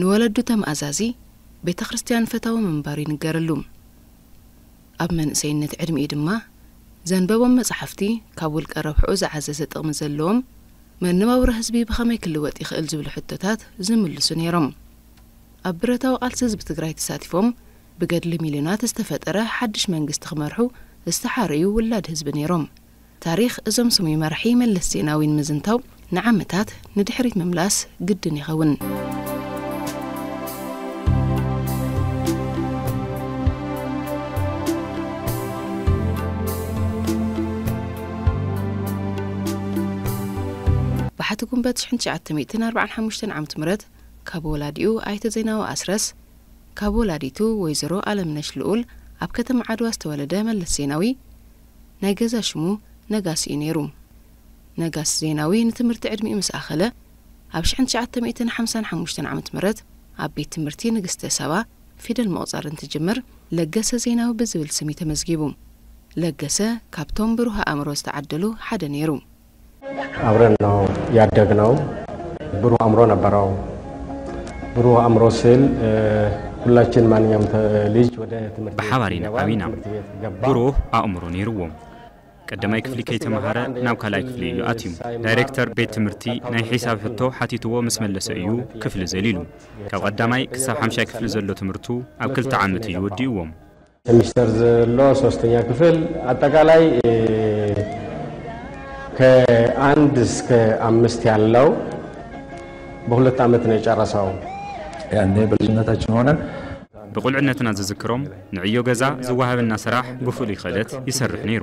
ንወለዱ ተም ኣዛዚ ቤተ ክርስቲያን ፈታዊ ምንባሩ ይንገረሉ። ኣብ መንእሰይነት ዕድሚኡ ድማ ዘንበቦም መጻሕፍቲ ካብ ውልቀ ረብሕኡ ዝዓዘዘ ጥቕሚ ዘለዎም መነባብሮ ህዝቢ ብኸመይ ክልወጥ ይኽእል ዝብሉ ሕቶታት ዝምልሱ ነይሮም። ኣብ ብረታዊ ቃልሲ ህዝቢ ትግራይ ተሳቲፎም ብገድሊ ሚልዮናት ዝተፈጠረ ሓድሽ መንግስቲ ክመርሑ ዝተሓረዩ ውላድ ህዝቢ ነይሮም። ታሪኽ እዞም ስሙይ መራሒ መለስ ዜናዊ ንምዝንታው ንዓመታት ንድሕሪት ምምላስ ግድን ይኸውን። ባሕቲ ጉንበት ሽሕን ትሽዓተ ሚእትን ኣርባዓን ሓሙሽተን ዓመት ምረት ካብ ወላዲኡ ኣይተ ዜናዊ ኣስረስ ካብ ወላዲቱ ወይዘሮ ኣለምነሽ ልኡል ኣብ ከተማ ዓድዋ ዝተወለደ መለስ ዜናዊ ናይ ገዛ ሽሙ ነጋስ እዩ ነይሩ። ነጋስ ዜናዊ ንትምህርቲ ዕድሚኡ ምስ ኣኸለ ኣብ ሽሕን ትሽዓተ ሚእትን ሓምሳን ሓሙሽተን ዓመት ምረት ኣብ ቤት ትምህርቲ ንግስተ ሳባ ፊደል ምቑጻር እንትጅምር ለገሰ ዜናዊ ብዝብል ስም እዩ ተመዝጊቡ። ለገሰ ካብቶም ብሩህ ኣእምሮ ዝተዓደሉ ሓደ ነይሩ። አብረን ነው ያደግነው። ብሩህ አእምሮ ነበረው። ብሩህ አእምሮ ስል ሁላችን ማንኛውም ልጅ ወደ ትምህርት ብሓባር ኢና ዓቢና ብሩህ ኣእምሮ ነይርዎ ቀዳማይ ክፍሊ ከይተምሃረ ናብ ካልኣይ ክፍሊ እዩ ኣትዩ ዳይሬክተር ቤት ትምህርቲ ናይ ሒሳብ ሕቶ ሓቲትዎ ምስ መለሰ እዩ ክፍሊ ዘሊሉ ካብ ቀዳማይ ክሳብ ሓምሻይ ክፍሊ ዘሎ ትምህርቱ ኣብ ክልተ ዓመት እዩ ወዲእዎም ሰሚስተር ዘሎ ሶስተኛ ክፍል አጠቃላይ ከአንድ እስከ አምስት ያለው በሁለት ዓመት ነው የጨረሰው። ያኔ በልጅነታችን ሆነን ብቁልዕነትና ዝዝክሮም ንዕዮ ገዛ ዝወሃበና ስራሕ ብፍሉይ ኸእለት ይሰርሕ ነይሩ።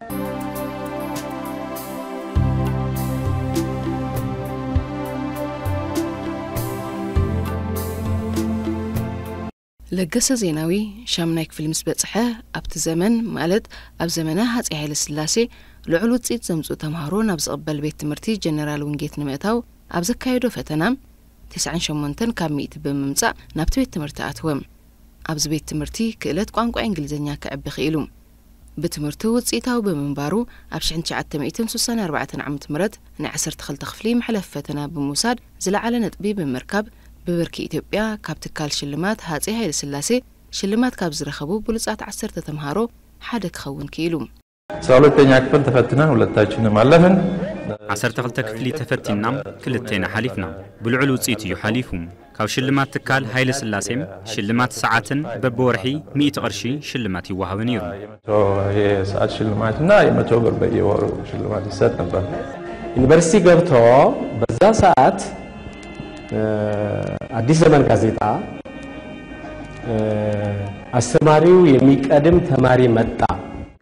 ለገሰ ዜናዊ ሻምናይ ክፍሊ ምስ በጽሐ ኣብቲ ዘመን ማለት ኣብ ዘመነ ሃጺ ሃይለ ስላሴ ልዑል ውጽኢት ዘምጽኡ ተምሃሮ ናብ ዝቕበል ቤት ትምህርቲ ጀነራል ውንጌት ንምእታው ኣብ ዘካየዶ ፈተና ትስዓን ሸሞንተን ካብ ሚእቲ ብምምጻእ ናብቲ ቤት ትምህርቲ ኣትወ። ኣብዚ ቤት ትምህርቲ ክእለት ቋንቋ እንግሊዝኛ ከዕቢ ክኢሉ። ብትምህርቱ ውጽኢታዊ ብምንባሩ፣ ኣብ ሽሕን ትሽዓተ ሚእትን ስሳን ኣርባዕተን ዓመት ምረት ናይ ዓሰርተ ክልተ ክፍሊ መሕለፊ ፈተና ብምውሳድ ዝለዓለ ነጥቢ ብምርካብ ብብርኪ ኢትዮጵያ ካብ ትካል ሽልማት ሃጼ ሃይለስላሴ ሽልማት ካብ ዝረኸቡ ብሉጻት ዓሰርተ ተምሃሮ ሓደ ክኸውን ክኢሉ። ኣስራ ሁለተኛ ክፍል ተፈትነን ሁለታችንም ኣለፍን። ዓሰርተ ክልተ ክፍሊ ተፈቲንና ክልቴና ሓሊፍና። ብልዑል ውጽኢት እዩ ሓሊፉ። ካብ ሽልማት ትካል ሃይለስላሴም ሽልማት ሰዓትን በብወርሒ ሚእቲ ቅርሺ ሽልማት ይወሃቡ ነይሩ። የመቶ የሰዓት ሽልማት እና የመቶ ብር በየወሩ ሽልማት ይሰጥ ነበር። ዩኒቨርሲቲ ገብቶ በዛ ሰዓት አዲስ ዘመን ጋዜጣ አስተማሪው የሚቀድም ተማሪ መጣ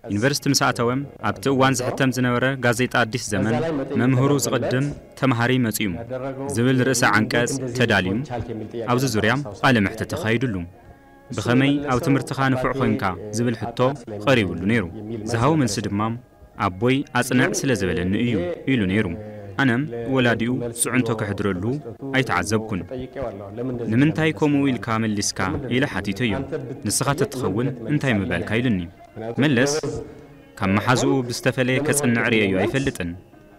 ዩኒቨርሲቲ ምስ ኣተወም ኣብቲ እዋን ዝሕተም ዝነበረ ጋዜጣ ኣዲስ ዘመን መምህሩ ዝቕድም ተምሃሪ መጺኡ ዝብል ርእሰ ዓንቀጽ ተዳልዩ ኣብዚ ዙርያ ቃለ መሕትት ተኻይዱሉ። ብኸመይ ኣብ ትምህርትኻ ንፉዕ ኾይንካ ዝብል ሕቶ ቐሪቡሉ ነይሩ። ዝሃቦ መልሲ ድማ ኣቦይ ኣጽንዕ ስለ ዝበለኒ እዩ ኢሉ ነይሩ። ኣነ ወላዲኡ ጽዕንቶ ከሕድረሉ ኣይተዓዘብኩን። ንምንታይ ከምኡ ኢልካ መሊስካ ኢለ ሓቲተዮ። ንስኻ ተትኸውን እንታይ ምበልካ ኢሉኒ። መለስ ካብ መሓዝኡ ብዝተፈለየ ከጽንዕ ርእየዮ ኣይፈልጥን።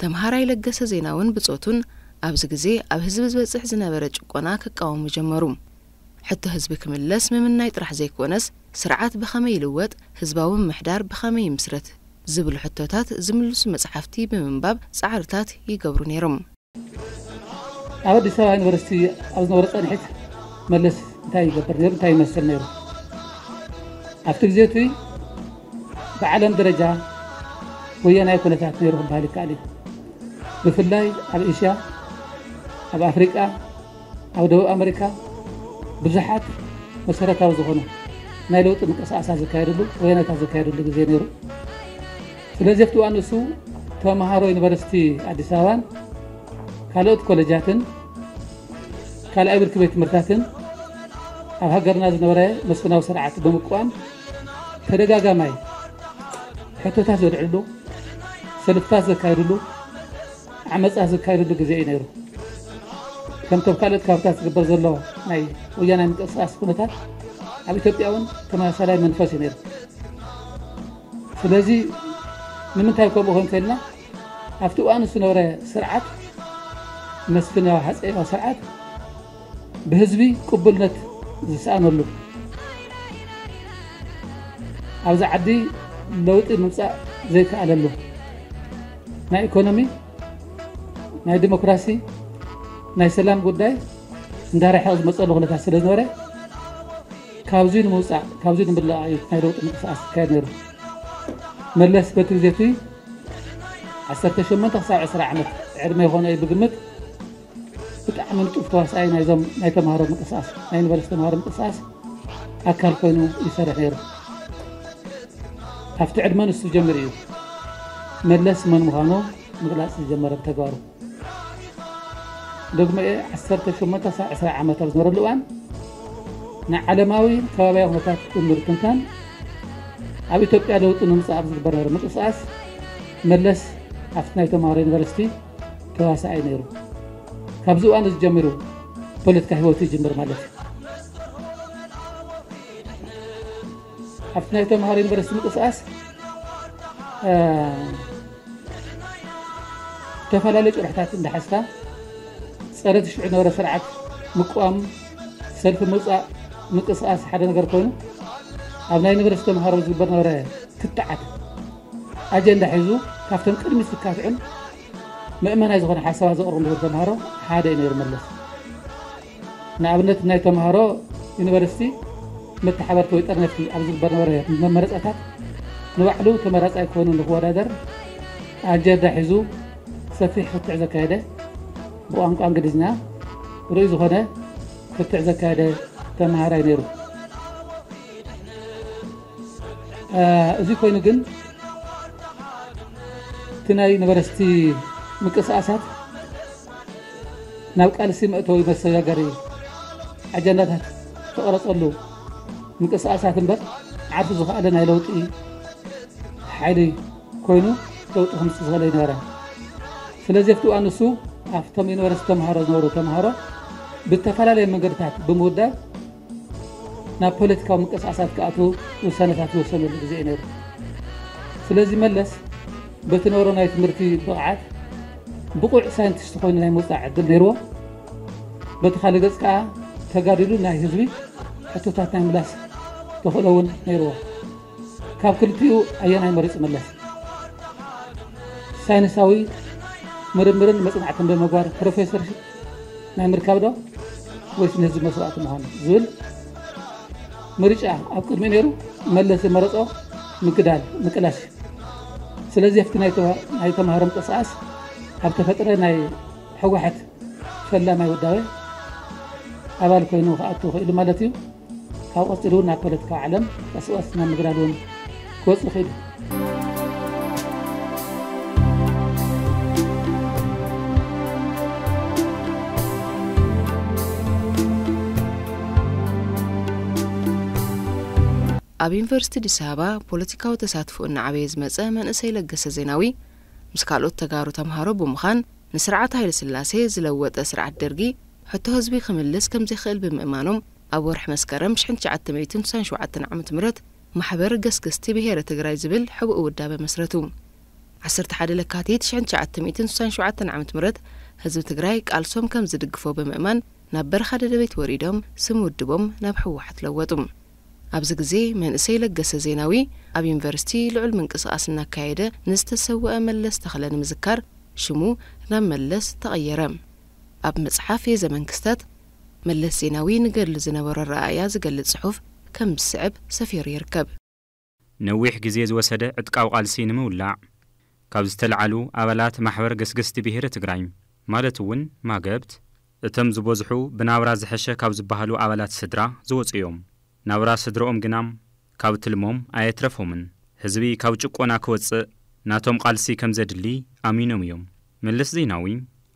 ተምሃራይ ለገሰ ዜናውን ብጾቱን ኣብዚ ግዜ ኣብ ህዝቢ ዝበጽሕ ዝነበረ ጭቆና ክቃወሙ ጀመሩ። ሕቶ ህዝቢ ክምለስ ምምናይ ጥራሕ ዘይኮነስ ስርዓት ብኸመይ ይልወጥ፣ ህዝባዊ ምምሕዳር ብኸመይ ይምስረት ዝብሉ ሕቶታት ዝምልሱ መጽሓፍቲ ብምንባብ ጻዕርታት ይገብሩ ነይሮም። ኣብ ኣዲስ ኣበባ ዩኒቨርሲቲ ኣብ ዝነበረ ፃንሒት መለስ እንታይ ይገብር ነይሩ እንታይ ይመስል ነይሩ ኣብቲ ግዜ እቲ ብዓለም ደረጃ ወያናይ ኩነታት ነይሩ ክበሃል ይከኣል እዩ ብፍላይ ኣብ ኤሽያ ኣብ ኣፍሪቃ ኣብ ደቡብ ኣመሪካ ብዙሓት መሰረታዊ ዝኾነ ናይ ለውጢ ምንቅስቃሳት ዝካየድሉ ወያነታት ዝካየድሉ ግዜ ነይሩ ስለዚ ኣብቲ እዋን ንሱ ተምሃሮ ዩኒቨርሲቲ ኣዲስ ኣበባን ካልኦት ኮሌጃትን ካልኣይ ብርኪ ቤት ትምህርታትን ኣብ ሃገርና ዝነበረ መስፍናዊ ስርዓት ብምቋም ተደጋጋማይ ሕቶታት ዘልዕሉ ሰልፍታት ዘካየድሉ ዓመጻት ዝካየደሉ ግዜ እዩ ነይሩ። ከምቲ ኣብ ካልኦት ከባቢታት ዝግበር ዘሎ ናይ ወያናይ ምንቅስቓስ ኩነታት ኣብ ኢትዮጵያ እውን ተመሳሳላይ መንፈስ እዩ ነይሩ። ስለዚ ንምንታይ ከምኡ ኮን ከልና ኣብቲ እዋን ዝነበረ ስርዓት መስፍናዊ ሃፀያዊ ስርዓት ብህዝቢ ቅቡልነት ዝሰኣነሉ ኣብዚ ዓዲ ለውጢ ምምፃእ ዘይከኣለሉ ናይ ኢኮኖሚ ናይ ዲሞክራሲ ናይ ሰላም ጉዳይ እንዳረሐቕ ዝመፀሉ ኩነታት ስለ ዝነበረ ካብዚ ንምውፃእ ካብዚ ንምልኣ እዩ ናይ ለውጢ ምንቅስቃስ ዝካየድ ነይሩ መለስ በቲ ግዜ እቲ ዓሰርተ ሸሞንተ ክሳብ ዕስራ ዓመት ዕድመ ይኾነ እዩ ብግምት ብጣዕሚ ንጡፍ ተዋሳኣይ ናይዞም ናይ ተምሃሮ ምንቅስቃስ ናይ ዩኒቨርስቲ ተምሃሮ ምንቅስቃስ ኣካል ኮይኑ ይሰርሕ ነይሩ ኣብቲ ዕድመ ንሱ ዝጀምር እዩ መለስ መን ምዃኑ ምግላፅ ዝጀመረ ብተግባሩ ደግሞ 18 ሳዕ 20 ዓመት ኣብ ዝነበረሉ እዋን ንዓለማዊ ከባቢያዊ ኩነታት ብምርትንታን ኣብ ኢትዮጵያ ለውጢ ንምፃእ ኣብ ዝግበር ምንቅስቃስ መለስ ኣብቲ ናይ ተምሃሮ ዩኒቨርሲቲ ተዋሳኣይ ነይሩ። ካብዚ እዋን እዚ ጀሚሩ ፖለቲካ ህይወቱ ይጅምር ማለት እዩ። ኣብቲ ናይ ተምሃሮ ዩኒቨርሲቲ ምንቅስቃስ ዝተፈላለዩ ጭርሕታት እንዳሓዝካ ፀረ ትሽዑ ነበረ ስርዓት ምቋም ሰልፊ ምውፃእ ምንቅስቃስ ሓደ ነገር ኮይኑ ኣብ ናይ ዩኒቨርሲቲ ተምሃሮ ዝግበር ነበረ ክትዓት ኣጀንዳ ሒዙ ካብቶም ቅድሚ ስካትዑን መእመናይ ዝኾነ ሓሳባት ዘቕርቡ ነበሩ ተምሃሮ ሓደ እዩ ነይሩ መለስ ንኣብነት ናይ ተምሃሮ ዩኒቨርሲቲ መተሓበርቲ ወይ ጠርነፍቲ ኣብ ዝግበር ነበረ መመረፃታት ንባዕሉ ተመራፃይ ኮይኑ ንክወዳደር ኣጀንዳ ሒዙ ሰፊሕ ክትዕ ዘካየደ ብቋንቋ እንግሊዝኛ ርኡይ ዝኾነ ክትዕ ዘካየደ ተምሃራይ ነይሩ እዚ ኮይኑ ግን እቲ ናይ ነበረስቲ ምቅስቃሳት ናብ ቃልሲ መእተዊ መሰጋገሪ ኣጀንዳታት ተቐረፀሉ ምንቅስቃሳት እምበር ዓርሱ ዝኸኣለ ናይ ለውጢ ሓይሊ ኮይኑ ለውጢ ክምፅእ ዝኽእል ኣይነበረ ስለዚ ኣብቲ እዋን ንሱ ኣብቶም ዩኒቨርስቲ ተምሃሮ ዝነበሩ ተምሃሮ ብተፈላለየ መንገድታት ብምውዳብ ናብ ፖለቲካዊ ምቅስቃሳት ክኣትዉ ውሳነታት ዝወሰነሉ ግዜ እዩ ነይሩ። ስለዚ መለስ በቲ ነበሮ ናይ ትምህርቲ ብቕዓት ብቑዕ ሳይንቲስት ኮይኑ ናይ ምውፃእ ዕድል ነይርዎ። በቲ ካልእ ገፅ ከዓ ተጋዲሉ ናይ ህዝቢ ሕቶታት ናይ ምላስ ተኽእሎ እውን ነይርዎ። ካብ ክልቲኡ ኣየናይ መሪጹ መለስ? ሳይንሳዊ ምርምርን መጽናዕትን ብምግባር ፕሮፌሰር ናይ ምርካብ ዶ ወይስ ንህዝቢ መስዋእቲ ምዃን ዝብል ምርጫ ኣብ ቅድሚ ነይሩ መለስ ዝመረጾ ምግዳል ምቅላስ ስለዚህ ኣብቲ ናይ ተምሃሮ ምንቅስቃስ ኣብ ተፈጥረ ናይ ሕወሓት ፈላማይ ውዳበ ኣባል ኮይኑ ክኣቱ ክኢሉ ማለት እዩ ካብኡ ቀፂሉ እውን ናብ ፖለቲካዊ ዓለም ቀስቀስ ናብ ምግዳድ እውን ክወፅ ይኽእል ኣብ ዩኒቨርሲቲ ኣዲስ ኣበባ ፖለቲካዊ ተሳትፎ እናዓበየ ዝመጸ መንእሰይ ለገሰ ዜናዊ ምስ ካልኦት ተጋሩ ተምሃሮ ብምዃን ንስርዓት ሃይለ ስላሴ ዝለወጠ ስርዓት ደርጊ ሕቶ ህዝቢ ክምልስ ከም ዘይክእል ብምእማኖም ኣብ ወርሒ መስከረም ሽሕን ትሽዓተ ሚእትን ትስዓን ሸውዓተን ዓመተ ምህረት ማሕበር ገስገስቲ ብሄረ ትግራይ ዝብል ሕቡእ ውዳበ መስረቱ። ዓሰርተ ሓደ ለካቲት ሽሕን ትሽዓተ ሚእትን ትስዓን ሸውዓተን ዓመተ ምህረት ህዝቢ ትግራይ ቃልሶም ከም ዝድግፎ ብምእማን ናብ በረኻ ደደቢት ወሪዶም ስም ውድቦም ናብ ህወሓት ለወጡ። ኣብዚ ግዜ መንእሰይ ለገሰ ዜናዊ ኣብ ዩኒቨርሲቲ ልዑል ምንቅስቓስ እናካየደ ንዝተሰወኣ መለስ ተኽለ ንምዝካር ሽሙ ናብ መለስ ተቐየረ። ኣብ መጽሓፍ የዘመን ክስተት፣ መለስ ዜናዊ ንገድሊ ዝነበሮ ኣረኣእያ ዝገልጽ ጽሑፍ ከም ዝስዕብ ሰፊሩ ይርከብ። ነዊሕ ግዜ ዝወሰደ ዕጥቃዊ ቃልሲ ንምውላዕ ካብ ዝተልዓሉ ኣባላት ማሕበር ገስገስቲ ብሄረ ትግራይ ማለት እውን ማገብት፣ እቶም ዝበዝሑ ብናብራ ዝሐሸ ካብ ዝበሃሉ ኣባላት ስድራ ዝወፁ እዮም። ናብራ ስድርኦም ግና ካብ ትልሞም ኣየትረፎምን። ህዝቢ ካብ ጭቆና ክወጽእ ናቶም ቓልሲ ከም ዘድሊ ኣሚኖም እዮም። መለስ ዜናዊ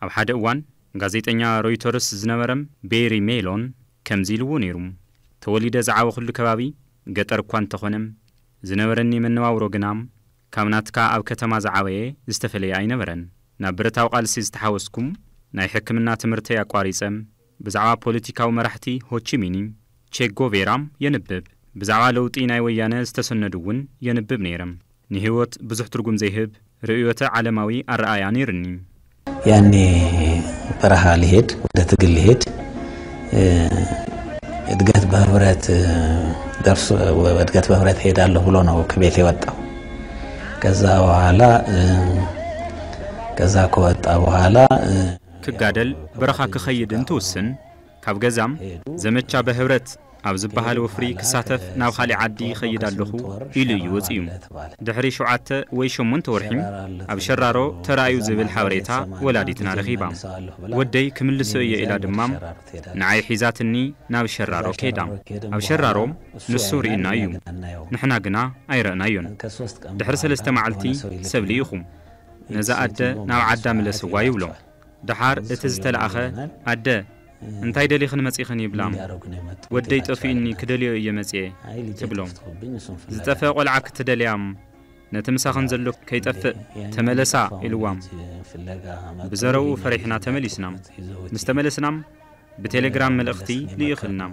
ኣብ ሓደ እዋን ጋዜጠኛ ሮይቶርስ ዝነበረ ቤሪ ሜሎን ከምዚ ኢልዎ ነይሩ፣ ተወሊደ ዝዓበኹሉ ከባቢ ገጠር እኳ እንተኾነ፣ ዝነበረኒ መነባብሮ ግና ካብ ናትካ ኣብ ከተማ ዝዓበየ ዝተፈለየ ኣይነበረን። ናብ ብረታዊ ቓልሲ ዝተሓወስኩ፣ ናይ ሕክምና ትምህርተይ ኣቋሪጸ፣ ብዛዕባ ፖለቲካዊ መራሕቲ ሆቺሚኒ፣ ቼጎቬራ፣ የንብብ። ብዛዕባ ለውጢ ናይ ወያነ ዝተሰነዱ እውን የንብብ ነይረ። ንህይወት ብዙሕ ትርጉም ዘይህብ ርእዮተ ዓለማዊ ኣረኣእያ ነይሩኒ። ያኔ በረሃ ልሄድ ወደ ትግል ልሄድ እድገት በህብረት ደርሶ እድገት በህብረት እሄዳለሁ ብሎ ነው ከቤት የወጣው። ከዛ በኋላ ከዛ ከወጣ በኋላ ክጋደል በረኻ ክኸይድን ትውስን። ካብ ገዛም ዘመቻ በህብረት ኣብ ዝበሃል ወፍሪ ክሳተፍ ናብ ኻሊእ ዓዲ ይኸይድ ኣለኹ ኢሉ እዩ ወጺኡ። ድሕሪ ሸውዓተ ወይ ሸሞንተ ወርሒም ኣብ ሸራሮ ተራእዩ ዝብል ሓበሬታ ወላዲትና ረኺባ። ወደይ ክምልሶ እየ ኢላ ድማም ንዓይ ሒዛትኒ ናብ ሸራሮ ከይዳ። ኣብ ሸራሮ ንሱ ርኢና እዩ። ንሕና ግና ኣይረእናዮን። ድሕሪ ሰለስተ መዓልቲ ሰብ ልኢኹ። ነዛ ኣደ ናብ ዓዳ ምለስዋ ይብሎም። ደሓር እቲ ዝተለኣኸ፣ ኣደ እንታይ ደሊኽን መጺኽን ይብላም። ወደይ ጠፊኡኒ ክደልዮ እየ መጺኤ ትብሎም። ዝጠፍአ ቆልዓ ክትደልያም ነቲ ምሳኽን ዘሎ ከይጠፍእ ተመለሳ ኢልዋም። ብዘረብኡ ፈሪሕና ተመሊስናም። ምስ ተመለስናም ብቴሌግራም መልእኽቲ ልኢኽልናም።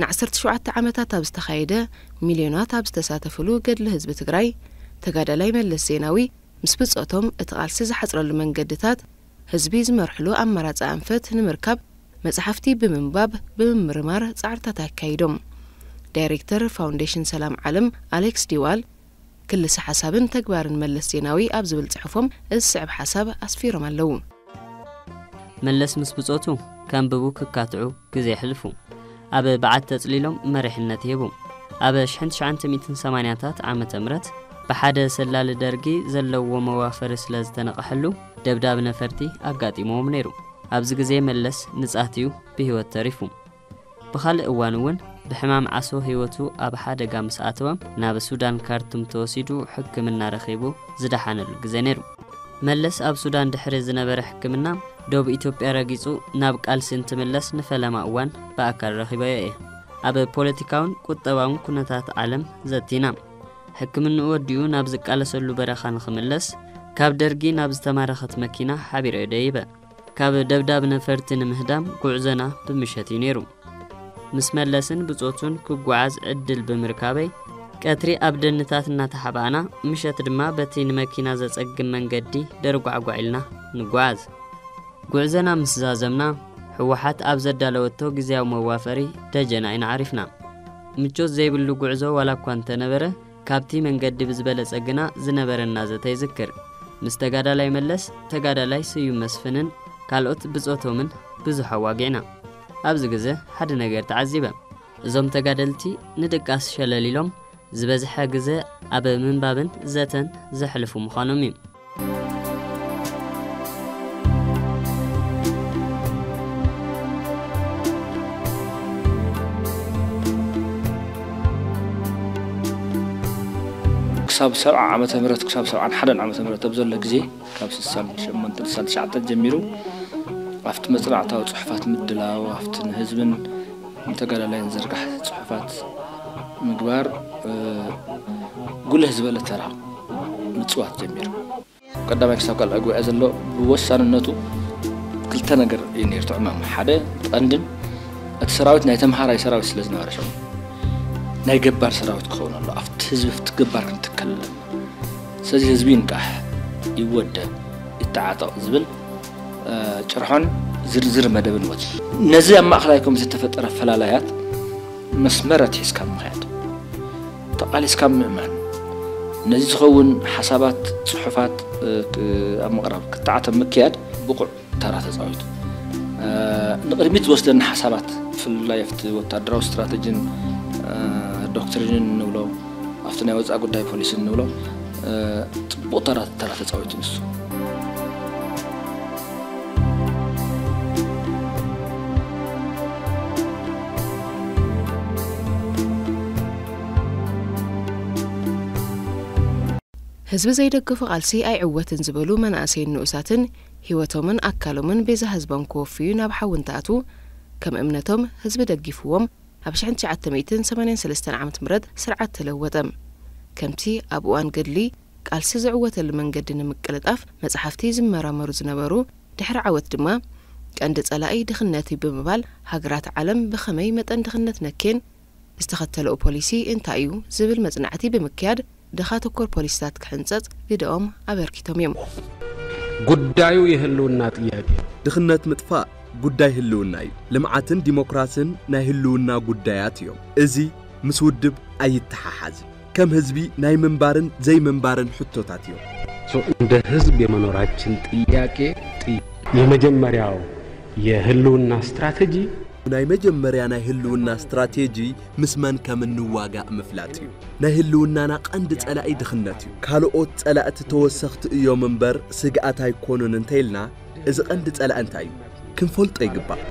ንዓሰርተ ሸውዓተ ዓመታት ኣብ ዝተኻየደ ሚልዮናት ኣብ ዝተሳተፍሉ ገድሊ ህዝቢ ትግራይ ተጋዳላይ መለስ ዜናዊ ምስ ብፆቶም እቲ ቓልሲ ዝሓፅረሉ መንገድታት ህዝቢ ዝመርሕሉ ኣማራጺ ኣንፈት ንምርካብ መጽሓፍቲ ብምንባብ ብምምርማር ጻዕርታት ኣካይዶም። ዳይሬክተር ፋውንዴሽን ሰላም ዓለም ኣሌክስ ዲዋል፣ ክልሰ ሓሳብን ተግባርን መለስ ዜናዊ ኣብ ዝብል ጽሑፎም እዚ ዝስዕብ ሓሳብ ኣስፊሮም ኣለዉ። መለስ ምስ ብጾቱ ከንብቡ ክካትዑ፣ ግዜ ሕልፉ። ኣብ በዓቲ ተጽሊሎም መሪሕነት ይህቡ። ኣብ ሽሕን ትሽዓንተ ሚእትን ሰማንያታት ዓመተ ምረት ብሓደ ሰላሊ ደርጊ ዘለዎ መዋፈሪ ስለ ዝተነቐሐሉ ደብዳብ ነፈርቲ ኣጋጢምዎም ነይሩ። ኣብዚ ግዜ መለስ ንጻት'ዩ ብህይወት ተሪፉ። ብኻልእ እዋን'ውን ብሕማም ዓሶ ህይወቱ ኣብ ሓደጋ ምስ ኣተወ ናብ ሱዳን ካርቱም ተወሲዱ ሕክምና ረኺቡ ዝደሓነሉ ግዜ ነይሩ። መለስ ኣብ ሱዳን ድሕሪ ዝነበረ ሕክምና፣ ዶብ ኢትዮጵያ ረጊጹ ናብ ቃልሲ እንትምለስ ንፈለማ እዋን ብኣካል ረኺበዮ እየ። ኣብ ፖለቲካውን ቁጠባውን ኩነታት ዓለም ዘቲና። ሕክምንኡ ወዲኡ ናብ ዝቃለሰሉ በረኻ ንኽምለስ ካብ ደርጊ ናብ ዝተማረኸት መኪና ሓቢረዮ ደይበ። ካብ ደብዳብ ነፈርቲ ንምህዳም ጉዕዞና ብምሸት እዩ ነይሩ። ምስ መለስን ብጾቱን ክጓዓዝ ዕድል ብምርካበይ ቀትሪ ኣብ ደንታት እናተሓባእና ምሸት ድማ በቲ ንመኪና ዘጸግም መንገዲ ደርጓዕጓዕ ኢልና ንጓዓዝ ጉዕዘና ምስ ዛዘምና ህወሓት ኣብ ዘዳለወቶ ግዜያዊ መዋፈሪ ደጀን ኣይንዓሪፍና። ምቾት ዘይብሉ ጉዕዞ ዋላ እኳ እንተነበረ ካብቲ መንገዲ ብዝበለጸ ግና ዝነበረና ዘተ ይዝክር። ምስ ተጋዳላይ መለስ፣ ተጋዳላይ ስዩም መስፍንን ካልኦት ብጾቶምን ብዙሕ ኣዋጊዕና። ኣብዚ ግዘ ሓደ ነገር ተዓዚበ። እዞም ተጋደልቲ ንድቃስ ሸለል ኢሎም ዝበዝሐ ግዘ ኣብ ምንባብን ዘተን ዘሕልፉ ምዃኖም እዩ። ክሳብ ሰብዓ ዓመተ ምህረት ክሳብ ሰብዓን ሓደን ዓመተ ምህረት ኣብ ዘሎ ግዜ ካብ ስሳን ሸሞንተን ስሳን ትሽዓተን ጀሚሩ ኣብቲ መፅናዕታዊ ፅሑፋት ምድላው ኣብቲ ንህዝብን ንተጋዳላይን ዝርጋሕ ፅሑፋት ምግባር ጉልህ ዝበለ ተራ ምጽዋት ጀሚሩ። ካብ ቀዳማይ ክሳብ ካልኣይ ጉባኤ ዘሎ ብወሳንነቱ ክልተ ነገር እዩ ነይሩ እቲ ዕማም። ሓደ ቀንድን እቲ ሰራዊት ናይ ተምሃራይ ሰራዊት ስለ ዝነበረ ሽዑ ናይ ገባር ሰራዊት ክኸውን ኣሎ ኣብቲ ህዝቢ ፍቲ ገባር ክንትከል ኣለና። ስለዚ ህዝቢ ይንቃሕ፣ ይወደብ፣ ይተዓጠቕ ዝብል ጭርሖን ዝርዝር መደብን ወጺኡ። ነዚ ኣብ ማእከላይ ኮሚቴ ዝተፈጠረ ፈላላያት መስመር ኣትሒዝካ ምኽያድ። ተቓሊስካ ምእማን፣ ነዚ ዝኸውን ሓሳባት፣ ጽሑፋት ኣብ ምቕራብ ክትዓት ኣብ ምክያድ ብቑዕ ተራ ተጻዊቱ። ንቕድሚት ዝወስደና ሓሳባት ብፍላይ ኣብቲ ወተሃደራዊ ስትራተጂን ዶክትሪንን እንብሎ ኣብቲ ናይ ወጻኢ ጉዳይ ፖሊሲን እንብሎ ጽቡቕ ተራ ተራ ተጻዊቱ ንሱ። ህዝቢ ዘይደገፎ ቃልሲ ኣይዕወትን ዝበሉ መናእሰይን ንኡሳትን ህይወቶምን ኣካሎምን ቤዛ ህዝቦም ክወፍዩ ናብ ሓዊ እንትኣትዉ ከም እምነቶም ህዝቢ ደጊፍዎም ኣብ ሽሕን ትሽዓተ ሚእትን ሰማንያን ሰለስተን ዓመት ምረት ስርዓት ተለወጠ ከምቲ ኣብ እዋን ገድሊ ቃልሲ ዝዕወተሉ መንገዲ ንምቅልጣፍ መጽሓፍቲ ዝመራመሩ ዝነበሩ፣ ድሕሪ ዓወት ድማ ቀንዲ ጸላኢ ድኽነት እዩ ብምባል ሃገራት ዓለም ብኸመይ መጠን ድኽነት ነክየን፣ ዝተኸተለኡ ፖሊሲ እንታይ እዩ ዝብል መጽናዕቲ ብምክያድ ድኻ ተኮር ፖሊሲታት ክሕንጸጽ ግደኦም ኣበርኪቶም እዮም። ጉዳዩ የህልውና ጥያቄ እዩ። ድኽነት ምጥፋእ ጉዳይ ህልውና እዩ። ልምዓትን ዲሞክራስን ናይ ህልውና ጉዳያት እዮም። እዚ ምስ ውድብ ኣይተሓሓዝን። ከም ህዝቢ ናይ ምንባርን ዘይምንባርን ሕቶታት እዮም። እንደ ህዝብ የመኖራችን ጥያቄ የመጀመሪያው የህልውና ስትራቴጂ ናይ መጀመርያ ናይ ህልውና ስትራቴጂ ምስ መን ከም እንዋጋእ ምፍላጥ እዩ። ናይ ህልውናና ቀንዲ ጸላኢ ድኽነት እዩ። ካልኦት ጸላእቲ ተወሰኽቲ እዮም እምበር ስግኣት ኣይኮኑን እንተኢልና እዚ ቀንዲ ጸላኢ እንታይ እዩ ክንፈልጦ ይግባእ።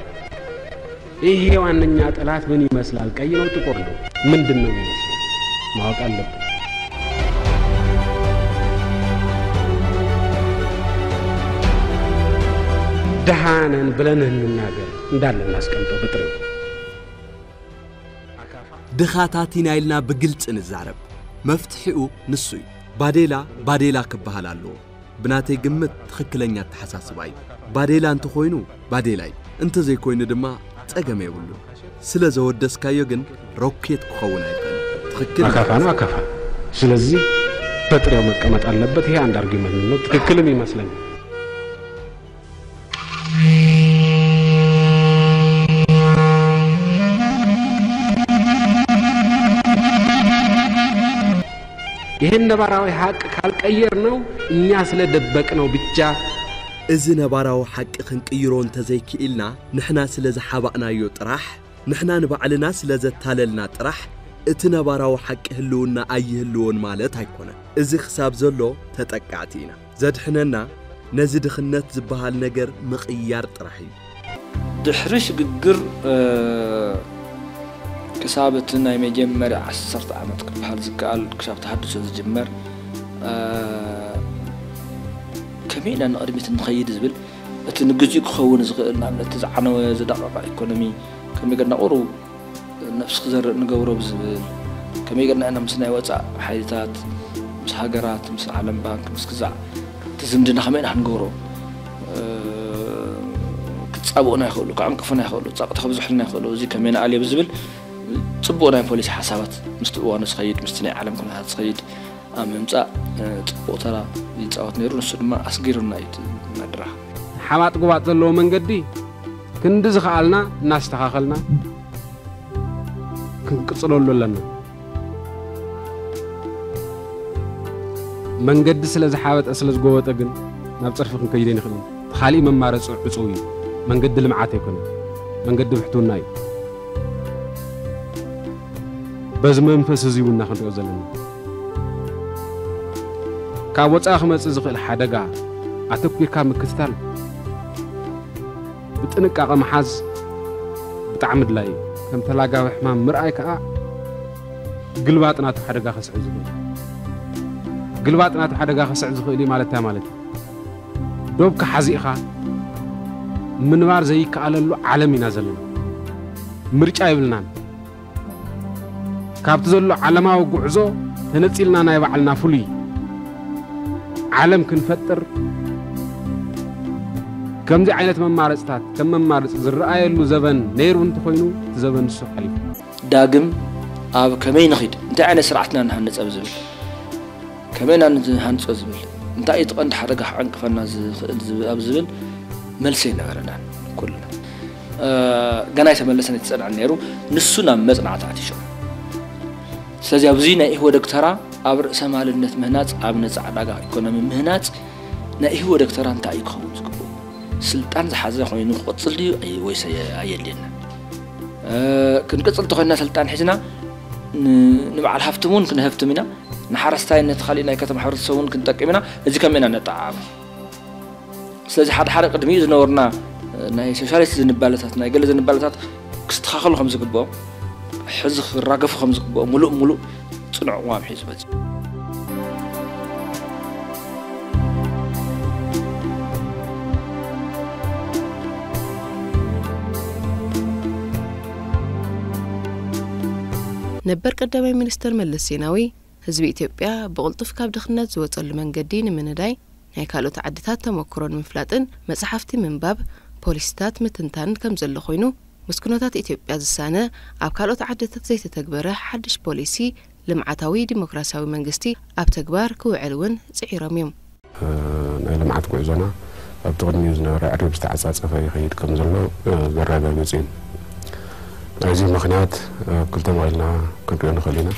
ይሄ ዋነኛ ጠላት ምን ይመስላል? ቀይ ነው? ጥቁር ነው? ምንድን ነው ይመስላል? ማወቅ አለብን። ድሃ ነን ብለን እንናገር እንዳለ እናስቀምጠው ብጥሬው ድኻታት ኢና ኢልና ብግልፂ ንዛረብ መፍትሒኡ ንሱ እዩ ባዴላ ባዴላ ክበሃል ኣለዎ ብናተይ ግምት ትኽክለኛ ኣተሓሳስባ እዩ። ባዴላ እንተኾይኑ ባዴላ እዩ፣ እንተዘይኮይኑ ድማ ጸገም የብሉን። ስለ ዘወደስካዮ ግን ሮኬት ክኸውን ኣይክእልን። ትኽክል እዩ። ኣካፋ ነው ኣካፋ ስለዚህ በጥሬው መቀመጥ አለበት ይሄ አንድ አርጊመንት ነው ትክክልም ይመስለኛል። ይህን ነባራዊ ሀቅ ካልቀየር ነው እኛ ስለ ደበቅ ነው ብቻ እዚ ነባራዊ ሓቂ ክንቅይሮ እንተዘይክኢልና ንሕና ስለ ዝሓባእናዮ ጥራሕ ንሕና ንባዕልና ስለ ዘታለልና ጥራሕ እቲ ነባራዊ ሓቂ ህልውና ኣይህልዎን ማለት ኣይኮነን እዚ ክሳብ ዘሎ ተጠቃዕቲ ኢና ዘድሕነና ነዚ ድኽነት ዝበሃል ነገር ምቕያር ጥራሕ እዩ። ድሕሪ ሽግግር ክሳብ እቲ ናይ መጀመርያ ዓሰርተ ዓመት ክበሃል ዝከኣል ክሳብ ተሃድሶ ዝጅመር ከመይ ኢልና ንቕድሚት ንኸይድ ዝብል እቲ ንግዚኡ ክኸውን ዝኽእል ንኣብነት እቲ ዝዓነወ ዝደቐቐ ኢኮኖሚ ከመይ ገርና ቁሩብ ነብስ ክዘርእ ንገብሮ ብዝብል ከመይ ገርና ኢና ምስ ናይ ወፃእ ሓይልታት ምስ ሃገራት ምስ ዓለም ባንክ ምስ ግዛዕ እቲ ዝምድና ከመይ ኢና ክንገብሮ ክፃብኡና ይኽእሉ ክዕንቅፉና ይኽእሉ ፀቕጢ ከብዝሑልና ይኽእሉ እዚ ከመይ ንኣልዮ ብዝብል ፅቡቅ ናይ ፖሊሲ ሓሳባት ምስቲ እዋኑ ዝኸይድ ምስቲ ናይ ዓለም ኩነታት ዝኸይድ ኣብ ምምፃእ ፅቡቅ ተራ ይፃወት ነይሩ ንሱ ድማ ኣስጊሩና እዩ ናድራ ሓባጥ ጉባጥ ዘለዎ መንገዲ ክንዲ ዝኸኣልና እናስተኻኸልና ክንቅፅለሉ ኣለና። መንገዲ ስለ ዝሓበጠ ስለ ዝጎበጠ ግን ናብ ፅርፊ ክንከይድ ኣይንኽእልን። ኻሊእ መማረፂ ዕፁው እዩ። መንገዲ ልምዓት ኣይኮነን፣ መንገዲ ብሕትውና እዩ። በዚ መንፈስ እዚ እውን ኢና ክንሪኦ ዘለና። ካብ ወጻኢ ክመጽእ ዝኽእል ሓደጋ ኣተኲርካ ምክትታል ብጥንቃቐ ምሓዝ ብጣዕሚ ኣድላዪ እዩ። ከም ተላጋቢ ሕማም ምርኣይ ከኣ ግልባጥ ናቱ ሓደጋ ከስዕብ ዝኽእል እዩ። ግልባጥ ናቱ ሓደጋ ከስዕብ ዝኽእል እዩ ማለት እንታይ ማለት እዩ? ዶብካ ሓዚእኻ ምንባር ዘይከኣለሉ ዓለም ኢና ዘለና። ምርጫ የብልናን። ካብቲ ዘሎ ዓለማዊ ጉዕዞ ተነጺልና ናይ ባዕልና ፍሉይ ዓለም ክንፈጥር ከምዚ ዓይነት መማረፅታት ከም መማረፂ ዝረኣየሉ ዘበን ነይሩ እንተኾይኑ እቲ ዘበን ንሱ ሓሊፉ ዳግም ኣብ ከመይ ንኺድ እንታይ ዓይነት ስርዓትና ንሃንፀ ኣብ ዝብል ከመይ ኢና ንሃንፆ ዝብል እንታይ እዩ እቲ ቀንዲ ሓደጋ ክዕንቅፈና ዝኽእል ኣብ ዝብል መልሲ ኣይነበረናን ኩልና ገና ኣይተመለሰን ኣይተጸንዐን ነይሩ ንሱ ናብ መጽናዕቲ ኣቲሾም ስለዚ ኣብዚ ናይ ኢህወደግ ተራ ኣብ ርእሰ ማልነት ምህናፅ ኣብ ነፃ ዕዳጋ ኢኮኖሚ ምህናፅ ናይ ኢህወደግ ተራ እንታይ እዩ ክኸውን ዝግብኡ ስልጣን ዝሓዘ ኮይኑ ክቕፅል ድዩ ወይስ ኣየድልየና ክንቅፅል ተኮይንና ስልጣን ሒዝና ንበዓል ሃፍትም እውን ክንሀብትም ኢና ንሓረስታይነት ካሊእ ናይ ከተማ ሕብረተሰብ እውን ክንጠቅም ኢና እዚ ከመይ ኢና ነጠዓዓሙ ስለዚ ሓደ ሓደ ቅድሚ ዝነበርና ናይ ሶሻሊስት ዝንባለታት ናይ ገለ ዝንባለታት ክስተኻኸሉ ከም ዝግብኦም ሕዚ ክራገፉ ከም ዝግብኦም ሙሉእ ሙሉእ ፅኑዕ ቅዋም ሒዙ መፅዩ ነበር ቀዳማይ ሚኒስተር መለስ ዜናዊ ህዝቢ ኢትዮጵያ ብቕልጡፍ ካብ ድኽነት ዝወፀሉ መንገዲ ንምንዳይ ናይ ካልኦት ዓድታት ተሞክሮ ንምፍላጥን መፅሓፍቲ ምንባብ፣ ፖሊሲታት ምትንታንን ከምዘሎ ኮይኑ ምስ ኩነታት ኢትዮጵያ ዝሳነ ኣብ ካልኦት ዓድታት ዘይተተግበረ ሓዱሽ ፖሊሲ ልምዓታዊ ዲሞክራሲያዊ መንግስቲ ኣብ ተግባር ክውዕል እውን ፅዒሮም እዮም። ናይ ልምዓት ጉዕዞና ኣብቲ ቅድሚኡ ዝነበረ ኣዕሪብ ዝተዓፃፀፈ ይኸይድ ከም ዘሎ ዘረጋግፅ እዩ። ናይዚ ምኽንያት ኣብ ክልተ መቒልና ክንሪኦ ንኽእል ኢና።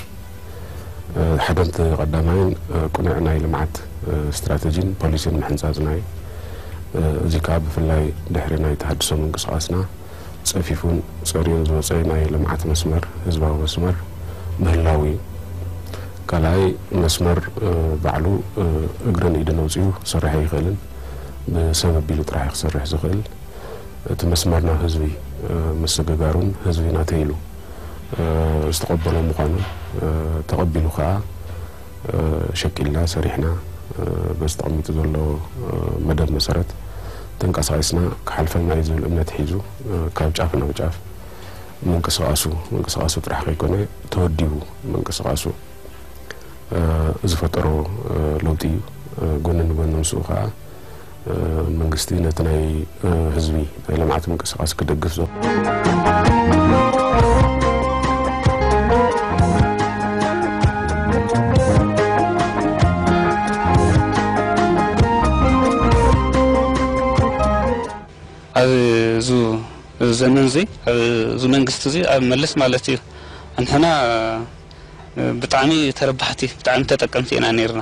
ሓደ እቲ ቀዳማይን ቅኑዕ ናይ ልምዓት ስትራተጂን ፖሊሲን ምሕንፃፅና እዩ። እዚ ከዓ ብፍላይ ድሕሪ ናይ ተሃድሶ ምንቅስቓስና፣ ጸፊፉን ጸርዩን ዝወጸ ናይ ልምዓት መስመር፣ ህዝባዊ መስመር፣ ምህላዉ እዩ። ካልኣይ መስመር ባዕሉ እግርን ኢድን ኣውጺኡ ክሰርሕ ኣይኽእልን። ብሰብ ኣቢሉ ጥራሕ እዩ ክሰርሕ ዝኽእል። እቲ መስመር ናብ ህዝቢ ምስግጋሩን ህዝቢ ናተይ ኢሉ ዝተቐበሎ ምዃኑን ተቐቢሉ ከኣ፣ ሸቂልና ሰሪሕና በዚ ተቐሚጡ ዘሎ መደብ መሰረት ተንቀሳቒስና ክሓልፈና እዩ ዝብል እምነት ሒዙ ካብ ጫፍ ናብ ጫፍ ምንቅስቓሱ ምንቅስቓሱ ጥራሕ ከይኮነ ተወዲቡ ምንቅስቓሱ ዝፈጠሮ ለውጢ እዩ። ጎኒ ንጎኒ ምስኡ ከዓ መንግስቲ ነቲ ናይ ህዝቢ ናይ ልምዓት ምንቅስቃስ ክደግፍ ዞ ዘመን እዚ እዚ መንግስቲ እዚ ኣብ መልስ ማለት እዩ ንሕና ብጣዕሚ ተረባሕቲ ብጣዕሚ ተጠቀምቲ ኢና ነርና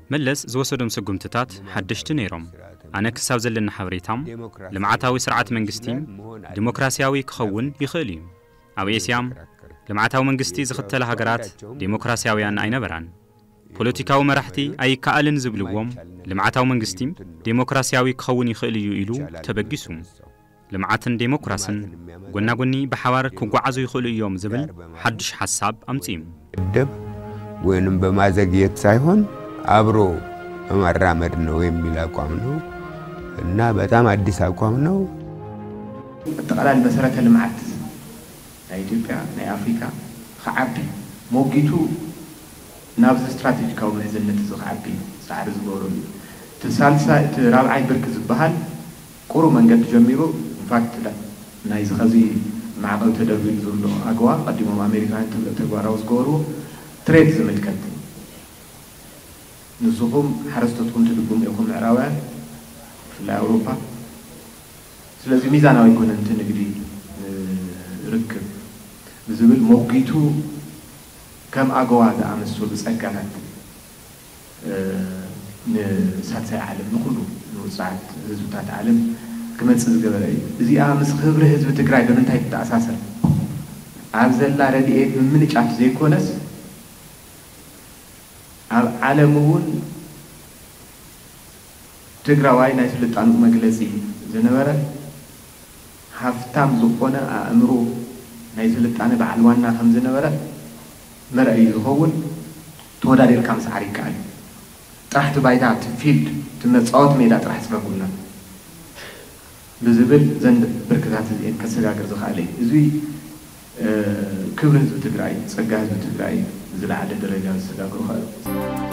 መለስ ዝወሰዶም ስጉምትታት ሓደሽቲ ነይሮም። ኣነ ክሳብ ዘለኒ ሓበሬታ ልምዓታዊ ስርዓት መንግስቲ ዲሞክራሲያዊ ክኸውን ይኽእል እዩ። ኣብ ኤስያ ልምዓታዊ መንግስቲ ዝኽተላ ሃገራት ዴሞክራሲያውያን ኣይነበራን። ፖለቲካዊ መራሕቲ ኣይከኣልን ዝብልዎ ልምዓታዊ መንግስቲ ዴሞክራሲያዊ ክኸውን ይኽእል እዩ ኢሉ ተበጊሱ። ልምዓትን ዴሞክራስን ጎና ጎኒ ብሓባር ክጓዓዙ ይኽእሉ እዮም ዝብል ሓዱሽ ሓሳብ ኣምፂኡ። ደብ ወይንም በማዘግየት ሳይሆን አብሮ በማራመድ ነው የሚል አቋም ነው እና በጣም አዲስ አቋም ነው። ኣጠቓላሊ መሰረተ ልምዓት ናይ ኢትዮጵያ ናይ ኣፍሪካ ኽዓቢ ሞጒቱ ናብዚ ስትራቴጂካዊ ምሕዝነት እዚ ኽዓቢ ፃዕሪ ዝገብረሉ እዩ። እቲ ሳልሳይ እቲ ራብዓይ ብርኪ ዝበሃል፣ ቁሩብ መንገዲ ጀሚሩ ኢንፋክት ናይዚ ኸዚ ማዕቐብ ተደርቢሉ ዘሎ ኣገዋ ቐዲሞም ኣሜሪካውያን ተግባራዊ ዝገበርዎ ትሬድ ዝምልከት ንስኹም ሓረስቶትኩም ትድጉሙ ኢኹም ምዕራባውያን ብፍላይ ኣውሮፓ ስለዚ ሚዛናዊ ኣይኮነን እቲ ንግዲ ንርክብ ብዝብል ሞጒቱ ከም ኣገዋ ዝኣመሰሉ ፀጋታት ንሳልሳይ ዓለም ንኹሉ ንውፁዓት ህዝብታት ዓለም ክመፅእ ዝገበረ እዩ። እዚኣ ምስ ኽብሪ ህዝቢ ትግራይ ብምንታይ ትተኣሳሰር? ኣብ ዘላ ረድኤት ምምንጫፍ ዘይኮነስ ኣብ ዓለም እውን ትግራዋይ ናይ ስልጣንኡ መግለፂ ዝነበረ ሃፍታም ዝኾነ ኣእምሮ ናይ ስልጣነ በዓል ዋና ከምዝነበረ መርኣዪ ዝኸውን ተወዳዲርካ ምስዓር ይከኣል እዩ ጥራሕ እቲ ባይታ እቲ ፊልድ እቲ መፃወቲ ሜዳ ጥራሕ ፅረጉልና ብዝብል እዘን ብርክታት እዚኤን ከሰጋግር ዝኸኣለ እዩ እዙይ ክብሪ ህዝቢ ትግራይ እዩ ፀጋ ህዝቢ ትግራይ እዩ ንዝለዓለ ደረጃ ዘሰጋግሮ ኸኣ እዩ።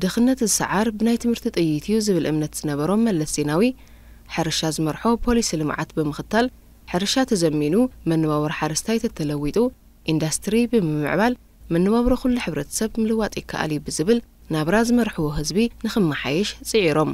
ድኽነት ዝሰዓር ብናይ ትምህርቲ ጥይት እዩ ዝብል እምነት ዝነበሮም መለስ ዜናዊ፣ ሕርሻ ዝመርሖ ፖሊሲ ልምዓት ብምኽታል ሕርሻ ተዘሚኑ መነባብሮ ሓረስታይ ተተለዊጡ ኢንዳስትሪ ብምምዕባል መነባብሮ ኩሉ ሕብረተሰብ ምልዋጥ ይከኣል እዩ ብዝብል ናብራ ዝመርሕዎ ህዝቢ ንክመሓየሽ ፅዒሮም።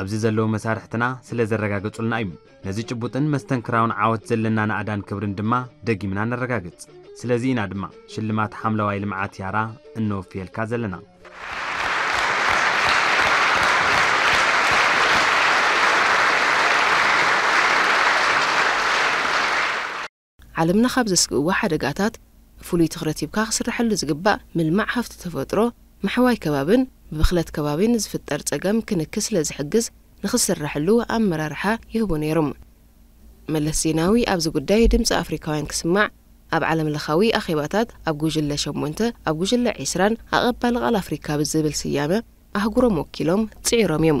ኣብዚ ዘለዉ መሳርሕትና ስለ ዘረጋገጹልና እዩ። ነዚ ጭቡጥን መስተንክራውን ዓወት ዘለና ናእዳን ክብርን ድማ ደጊምና ነረጋግጽ። ስለዚ ኢና ድማ ሽልማት ሓምለዋይ ልምዓት ያራ እነወፍየልካ ዘለና። ዓለምና ካብ ዘስግእዋ ሓደጋታት ፍሉይ ትኽረት ሂብካ ክስረሐሉ ዝግባእ ምልማዕ ሃፍቲ ተፈጥሮ፣ ምሕዋይ ከባብን ብብኽለት ከባቢ ንዝፍጠር ፀገም ክንኪ ስለዝሕግዝ ንክስረሐሉ ኣመራርሓ ይህቡ ነይሮም። መለስ ዜናዊ ኣብዚ ጉዳይ ድምፂ ኣፍሪካውያን ክስማዕ ኣብ ዓለም ለኻዊ ኣኼባታት ኣብ ጉጅለ ሸሞንተ ኣብ ጉጅለ ዒስራን ኣቐባሊ ቃል ኣፍሪካ ብዝብል ስያመ ኣህጉሮም ወኪሎም ፅዒሮም እዮም።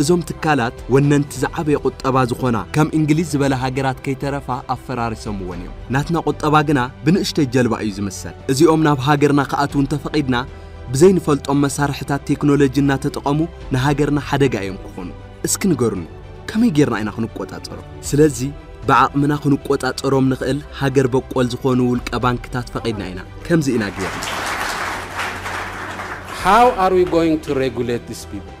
እዞም ትካላት ወነንቲ ዝዓበየ ቁጠባ ዝኾና ከም እንግሊዝ ዝበላ ሃገራት ከይተረፋ ኣፈራሪሶምወን እዮም። ናትና ቁጠባ ግና ብንእሽተይ ጀልባ እዩ ዝምሰል። እዚኦም ናብ ሃገርና ክኣትዉ እንተፈቒድና ብዘይንፈልጦም መሳርሕታት ቴክኖሎጂ እናተጠቐሙ ንሃገርና ሓደጋ እዮም ክኾኑ። እስኪ ንገሩኒ ከመይ ጌርና ኢና ክንቆፃፀሮም? ስለዚ ብዓቕምና ክንቆፃፀሮም ንኽእል ሃገር በቆል ዝኾኑ ውልቀ ባንክታት ፈቒድና ኢና። ከምዚ ኢና ጌርና። How are we going to regulate these people?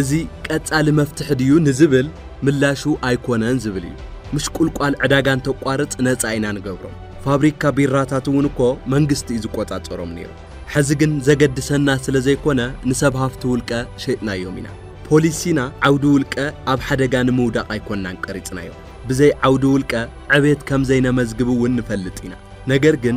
እዚ ቀጻሊ መፍትሒ ድዩ ንዝብል ምላሹ ኣይኮነን ዝብል እዩ። ምሽቁልቋል ዕዳጋ እንተቋርጽ ነጻ ኢና ንገብሮም። ፋብሪካ ቢራታት እውን እኮ መንግስቲ እዩ ዝቆጻጸሮም ነይሩ። ሕዚ ግን ዘገድሰና ስለ ዘይኮነ ንሰብ ሃፍቲ ውልቀ ሸጥናዮም ኢና። ፖሊሲና ዓውዲ ውልቀ ኣብ ሓደጋ ንምውዳቕ ኣይኮናን ቀሪጽናዮ። ብዘይ ዓውዲ ውልቀ ዕብየት ከም ዘይነመዝግብ እውን ንፈልጥ ኢና። ነገር ግን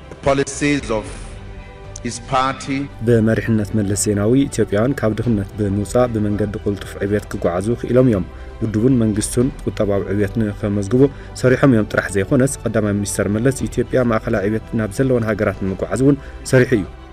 ብመሪሕነት መለስ ዜናዊ ኢትዮጵያውያን ካብ ድኽነት ብምውፃእ ብመንገዲ ቅልጡፍ ዕብየት ክጓዓዙ ክኢሎም እዮም። ውድቡን መንግስቱን ቁጠባዊ ዕብየት ንከመዝግቡ ሰሪሖም እዮም ጥራሕ ዘይኾነስ ቐዳማይ ሚኒስተር መለስ ኢትዮጵያ ማእኸላይ ዕብየት ናብ ዘለወን ሃገራት ንምጉዓዝ እውን ሰሪሑ እዩ።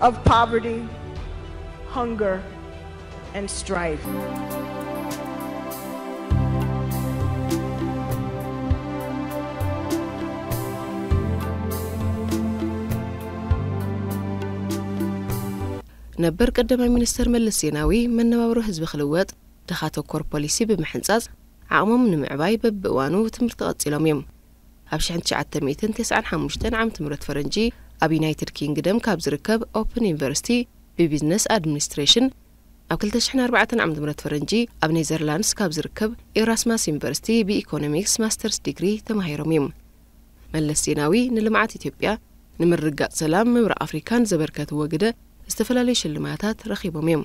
of poverty, hunger, and strife. ነበር ቀዳማይ ሚኒስተር መለስ ዜናዊ መነባብሮ ህዝቢ ክልወጥ ድኻ ተኮር ፖሊሲ ብምሕንጻጽ ዓቕሞም ንምዕባይ በብእዋኑ ትምህርቲ ቀጺሎም እዮም። ኣብ ሽሕን ትሽዓተ ሚእትን ተስዓን ሓሙሽተን ዓመተ ምህረት ፈረንጂ ኣብ ዩናይትድ ኪንግደም ካብ ዝርከብ ኦፕን ዩኒቨርሲቲ ብቢዝነስ ኣድሚኒስትሬሽን፣ ኣብ ክልተ ሽሕን ኣርባዕተን ዓመተ ምህረት ፈረንጂ ኣብ ኔዘርላንድስ ካብ ዝርከብ ኤራስማስ ዩኒቨርሲቲ ብኢኮኖሚክስ ማስተርስ ዲግሪ ተማሂሮም እዩም። መለስ ዜናዊ ንልምዓት ኢትዮጵያ፣ ንምርግጋፅ ሰላም ምብራቕ ኣፍሪካን ዘበርከትዎ ግደ ዝተፈላለዩ ሽልማታት ረኺቦም እዮም።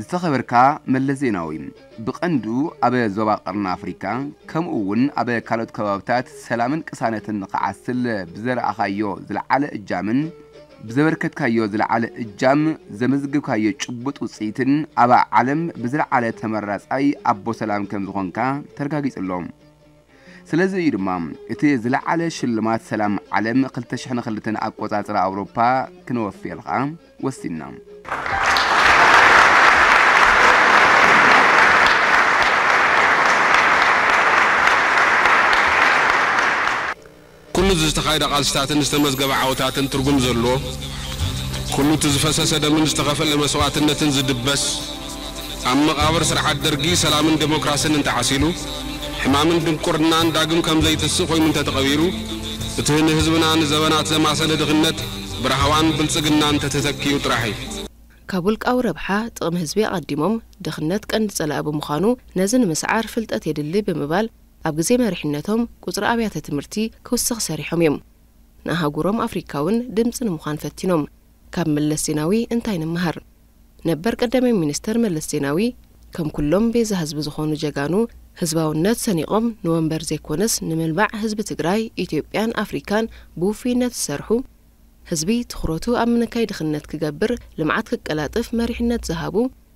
ዝተኸበርካ መለስ ዜናዊ፣ ብቐንዱ ኣብ ዞባ ቀርኒ ኣፍሪካ ከምኡ እውን ኣብ ካልኦት ከባብታት ሰላምን ቅሳነትን ንክዓስል ብዘርኣኻዮ ዝለዓለ እጃምን ብዘበርከትካዮ ዝለዓለ እጃም ዘመዝግብካዮ ጭቡጥ ውፅኢትን ኣብ ዓለም ብዝለዓለ ተመራፃይ ኣቦ ሰላም ከምዝኾንካ ተረጋጊፁ ኣሎ። ስለዚ እዩ ድማ እቲ ዝለዓለ ሽልማት ሰላም ዓለም 2002 ኣቆጻጽራ ኣውሮፓ ክነወፍየልካ ወሲንና። ኩሉ እቲ ዝተኻየደ ቃልስታትን ዝተመዝገበ ዓወታትን ትርጉም ዘለዎ፣ ኩሉ እቲ ዝፈሰሰ ደምን ዝተኸፈለ መስዋእትነትን ዝድበስ፣ ኣብ መቓብር ስርዓት ደርጊ ሰላምን ደሞክራስን እንተዓሲሉ፣ ሕማምን ድንቁርናን ዳግም ከም ዘይትስእ ኮይኑ እንተተቐቢሩ፣ እቲ ንህዝብና ንዘበናት ዘማሰነ ድኽነት ብራህዋን ብልጽግናን እንተተተኪኡ ጥራሕ እዩ። ካብ ውልቃዊ ረብሓ፣ ጥቕሚ ህዝቢ ኣቐዲሞም፣ ድኽነት ቀንዲ ጸላኢ ብምዃኑ፣ ነዚ ንምስዓር ፍልጠት የድሊ ብምባል፣ ኣብ ግዜ መሪሕነቶም ቁጽሪ ኣብያተ ትምህርቲ ክውስኽ ሰሪሖም እዮም። ንኣህጉሮም ኣፍሪካ እውን ድምጺ ንምዃን ፈቲኖም። ካብ መለስ ዜናዊ እንታይ ንመሃር? ነበር ቀዳማይ ሚኒስተር መለስ ዜናዊ ከም ኩሎም ቤዛ ህዝቢ ዝኾኑ ጀጋኑ ህዝባውነት ሰኒቖም ንወንበር ዘይኮነስ ንምልማዕ ህዝቢ ትግራይ፣ ኢትዮጵያን ኣፍሪካን ብውፍይነት ዝሰርሑ፣ ህዝቢ ትኹረቱ ኣብ ምንካይ ድኽነት ክገብር ልምዓት ክቀላጥፍ መሪሕነት ዝሃቡ፣